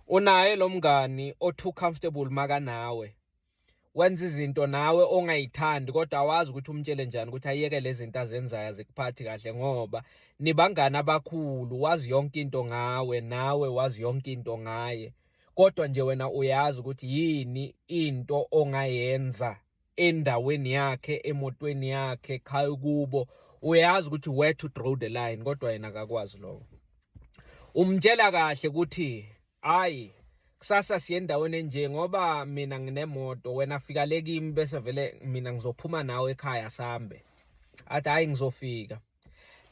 unaye lo mngani o-too comfortable makanawe wenza izinto nawe ongayithandi kodwa awazi ukuthi umtshele njani ukuthi ayeke lezi zinto azenzayo azikuphathi kahle ngoba nibangani abakhulu wazi yonke into ngawe nawe wazi yonke into ngaye kodwa nje wena uyazi ukuthi yini into ongayenza endaweni yakhe emotweni yakhe khaya kubo uyazi ukuthi where to draw the line kodwa yena akakwazi lokho umtshela kahle ukuthi hayi kusasa siye endaweni enje ngoba mina nginemoto wena fika le kimi bese vele mina ngizophuma nawe ekhaya sambe athi hayi ngizofika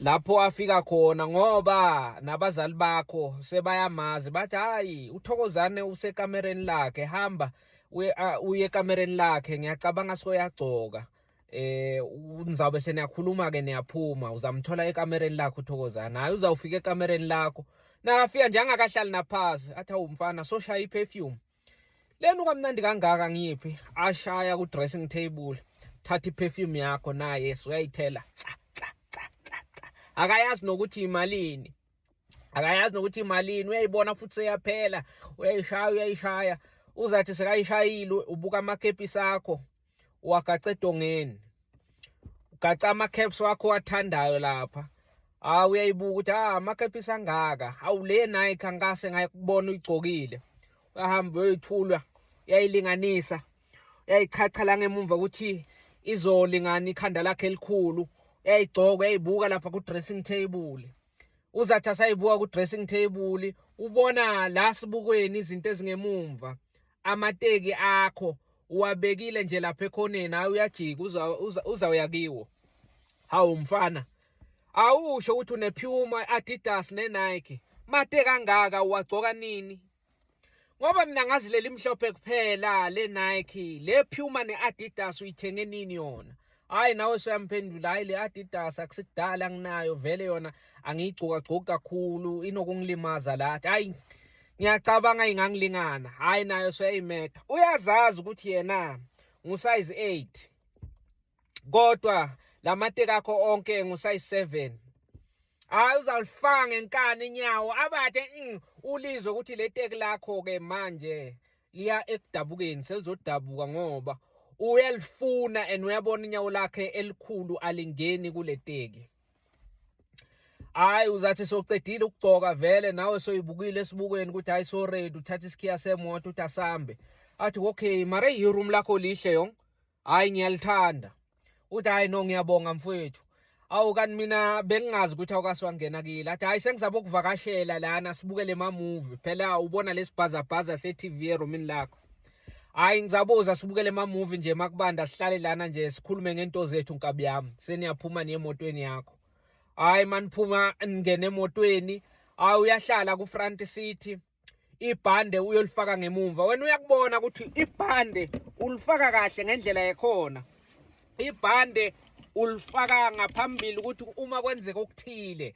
lapho afika khona ngoba nabazali bakho sebayamazi bathi hayi uthokozane usekamereni lakhe hamba uye ekamereni lakhe ngiyacabanga soyagcoka eh nizawube seniyakhuluma ke niyaphuma uzamthola ekamereni lakho uthokozana hayi uzawufika ekamereni lakho nakafika nje angakahlali naphansi athi awumfana soshaya iperfume lenu kamnandi kangaka ngiphi ashaya ku dressing table thatha iperfume yakho naye suyayithela akayazi nokuthi imalini akayazi nokuthi imalini uyayibona futhi seyaphela uyayishaya uyayishaya uzathi sekayishayile ubuka amakepisi akho uwagaca edongeni ugaca ama-caps wakho wathandayo lapha hawu uyayibuka ukuthi ah ama-caps angaka hawu le nike angase ngayikubona uyigcokile uyahamba uyoyithulwa uyayilinganisa uyayichacha la ngemumva ukuthi izolingana ikhanda lakhe elikhulu uyayigcoka uyayibuka lapha ku-dressing table uzathi asayibuka ku-dressing table ubona la sibukweni izinto ezingemumva amateki akho uwabekile nje lapha ekhoneni hayi uyajika uzawuya kiwo hawu mfana awusho ukuthi unephuma i-adidas ne-nike mate kangaka uwagcoka nini Ngoba mina ngazi leli mhlophe kuphela le Nike, le Puma ne Adidas uyithenge nini yona? Hayi nawe soyamphendula hayi le Adidas akusikudala nginayo vele yona angiyigcoka gcoki kakhulu inokungilimaza lathi. Hayi ngiyacabanga ingangilingana. Hayi nayo soyayimeda. Uyazazi ukuthi yena ngu size 8. kodwa lamateki akho onke ngusayi 7 hayi uzalifaka ngenkani inyawo abathe mm, ulizwe ukuthi le teki lakho ke manje liya ekudabukeni selizodabuka ngoba uyalifuna and uyabona inyawo lakhe elikhulu alingeni kule teki hayi uzathi soqedile ukugcoka vele nawe soyibukile esibukweni ukuthi hayi so ready uthatha isikhiya semoto uthi asambe athi okay mara iroom lakho lihle yonke hayi ngiyalithanda uthi hayi no ngiyabonga mfowethu awu kanti mina bengingazi ukuthi awukaswangena kile athi hayi sengizaba ukuvakashela lana sibukele mamuvi phela ubona lesibhazabhaza se-tv eromini lakho hayi ngizabuza sibukele mamuvi nje makubanda sihlale lana nje sikhulume ngento zethu nkabi yami seniyaphuma niye emotweni yakho hayi maniphuma ningene emotweni hayi uyahlala ku-front city ibhande uyolifaka ngemumva wena uyakubona ukuthi ibhande ulifaka kahle ngendlela yekhona ibhande ulifaka ngaphambili ukuthi uma kwenzeka okuthile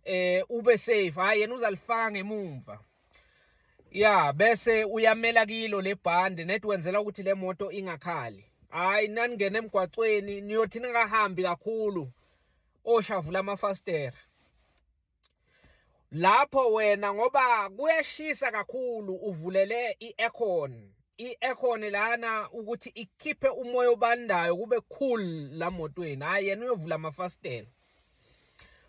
eh ube safe hayi yena uzalifaka ngemumva ya bese uyamela kilo lebhande net wenzela ukuthi le moto ingakhali hayi naningena emgwaqweni niyothi ningahambi kakhulu oshavula amafastera lapho wena ngoba kuyashisa kakhulu uvulele i-aircon i-aircon lana ukuthi ikhiphe umoya obandayo kube cool la motweni hhayi yena uyovula amafasitela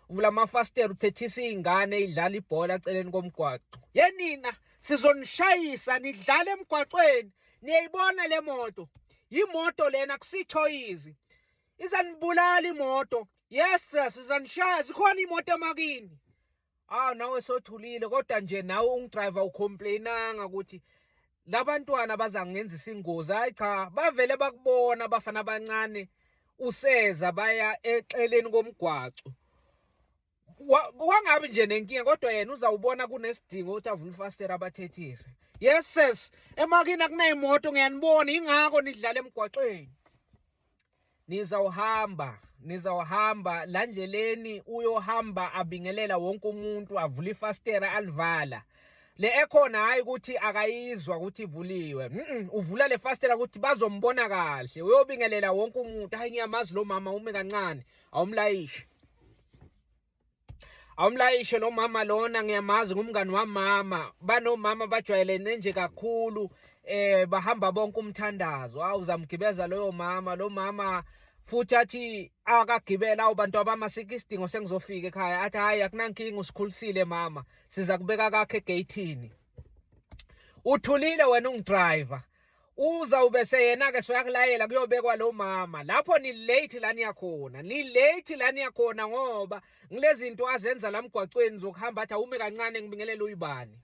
uvula amafasitela uthethisa iy'ngane idlala ibhola eceleni komgwaqo yenina sizonishayisa nidlala emgwaqweni niyayibona le moto yimoto lena kusithoyizi izanibulala imoto yes sizanishaya zikhona imoto emakini awu nawe sothulile kodwa nje nawe ungidriver ucomplainanga ukuthi labantwana bazangenzisa ingozi hayi cha bavele bakubona abafana abancane useza baya exeleni komgwaco wangabi nje nenkinga kodwa yena uzawubona kunesidingo ukuthi avule ifastera abathethise yes sis emakini akunayimoto ngiyanibona ingakho nidlala emgwaqweni nizawuhamba nizawuhamba la ndleleni uyohamba abingelela wonke umuntu avule ifastera alivala le ekhona hayi ukuthi akayizwa ukuthi ivuliwe mm uvula le fastela ukuthi bazombona kahle uyobingelela wonke umuntu hayi ngiyamazi lo mama ume kancane awumlayishe awumlayishe lo mama lona ngiyamazi ngumngani wamama banomama bajwayelene nje kakhulu eh bahamba bonke umthandazo hawu uzamgibeza loyo mama lo mama futhi athi akagibela abantu abama sike isidingo sengizofika ekhaya athi hayi akunankinga usikhulisile mama siza kubeka kakhe egeyithini uthulile wena ungidriver uza ube seyena-ke soyakulayela kuyobekwa lo mama lapho nilate la niyakhona nilate la niyakhona ngoba ngile zinto azenza la mgwacweni zokuhamba athi awume kancane ngibingelele uyibani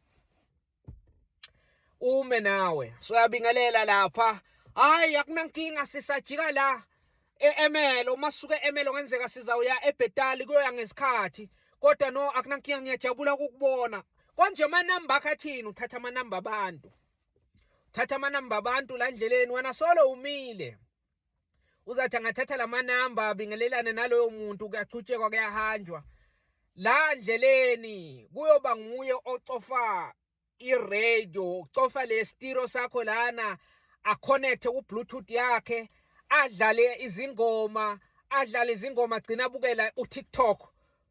ume nawe soyabingelela lapha hayi akunankinga sisajika la e-emelo uma suke emelo ngenzeka sizawuya ebhetali kuyoya ngesikhathi kodwa no akunankinga ngiyajabula ukukubona konje amanamba akhe athini uthatha amanamba abantu thatha amanamba abantu la ndleleni wena solo umile uzathi angathatha la manamba abingelelane naloyo muntu kuyachutshekwa kuyahanjwa la ndleleni kuyoba nguye ocofa iradio ucofa le stiro sakho lana aconnecte ku-bluetooth yakhe adlale izingoma adlale izingoma gcina abukela utiktok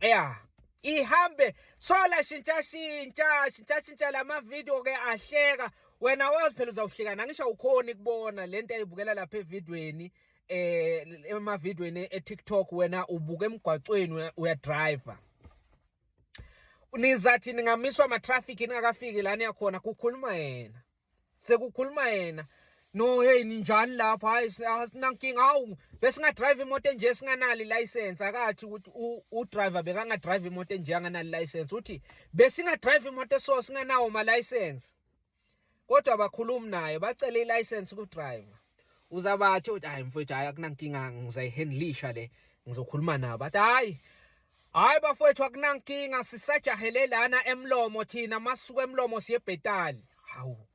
ya ihambe sola shintsha shintsha shintsha shintsha lama video ke ahleka wena wazi phela uzawuhlekana ngisho ukhona ikubona lento ayibukela lapha evidweni eh emavidweni eTikTok wena ubuka emgwaqweni uya driver nizathi ningamiswa ama traffic ningakafiki lana yakhona kukhuluma yena sekukhuluma yena no hey ninjani lapho hayi sinankinga hawu besingadrive imoto enje singanali license akathi ukuthi udriver bekangadrive imoto enje anganali license uthi besingadrive imoto so singanawo ma license kodwa bakhulumi nayo bacele i license ku driver uzabathi uthi hayi mfowethu hayi akunankinga ngizayihandlisha le ngizokhuluma nabo athi hayi Hayi bafowethu akunankinga sisajahele lana emlomo thina masuku emlomo siyebhetali. Hawu.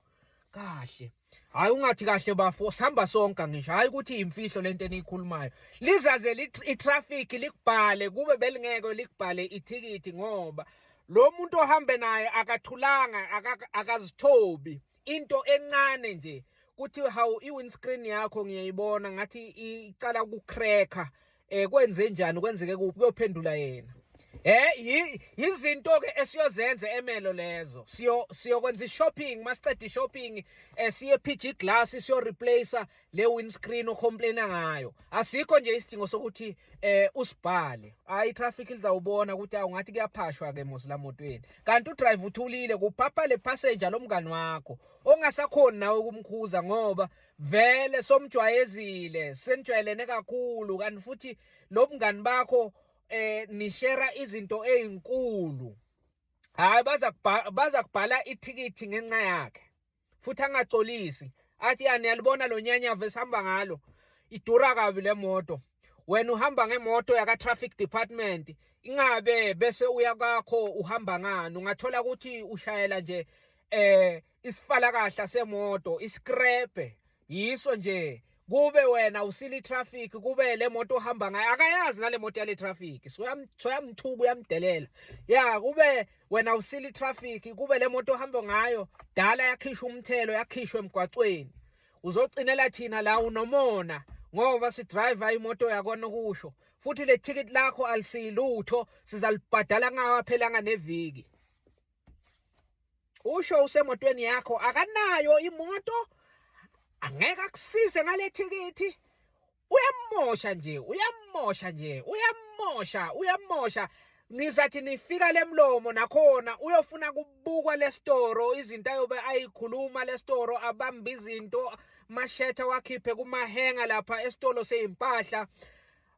Kahle. Hayi ungathi kahle bafo sihamba sonke ngisho hayi ukuthi imfihlo lento eniyikhulumayo. Lizaze i-traffic likubhale kube belingeke likubhale ithikithi ngoba lo muntu ohambe naye akathulanga akazithobi. into encane nje kuthi hawu i-windscreen yakho ngiyayibona ngathi icala ukucracker um eh, kwenze njani kwenzeke kuphi kuyophendula yena Eh yizinto ke esiyozenza emelo lezo. Siyo siyokwenza ishopping, masiqeda ishopping eh siye PG Glass siyo replace le windscreen ocomplaina ngayo asikho nje isidingo sokuthi eh usibhale hayi traffic lizawubona ukuthi awungathi kuyaphashwa ke mos la motweni kanti udrive uthulile kuphapha le passenger lomngani wakho ongasakhoni nawe ukumkhuza ngoba vele somjwayezile senijwayelene kakhulu kanti futhi lo mngani bakho eh nishera izinto ezinkulu hayi baza baza kubhala ithikithi ngenxa yakhe futhi angacolisi athi yani yalibona lo nyanyavu esihamba ngalo idura kabi le moto wena uhamba ngemoto yaka traffic department ingabe bese uya kwakho uhamba ngani ungathola ukuthi ushayela nje eh isifalakahla semoto iscrape yiso nje kube wena usile itraffic kube le moto ohamba ngayo akayazi nale moto yale traffic soyamthuka uyamdelela ya kube wena usile itraffic kube le moto ohamba ngayo dala yakhishwa umthelo yakhishwa emgwaqweni uzocinela thina la unomona ngoba sidriver imoto yakona kusho futhi le ticket lakho alisilutho sizalibhadala ngawaphelanga neviki usho usemotweni yakho akanayo imoto angeke akusize ngale thikithi uyamosha nje uyamosha nje uyamosha uyamosha nizathi nifika lemlomo nakhona uyofuna kubukwa lestoro izinto ayobe ayikhuluma lestoro abamba izinto mashetha wakhiphe kumahenga lapha esitolo sezimpahla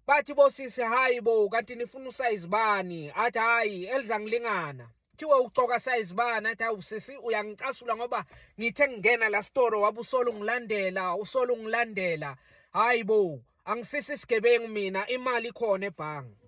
bathi bosisi hayi bo kanti nifuna usayizi bani athi hayi elizangilingana kuthiwe ucoka size bani athi hawu sisi uyangicasula ngoba ngithe ngingena la store wabusolo ngilandela usolo ngilandela hayi bo angisisi isigebengu mina imali ikhona ebhangi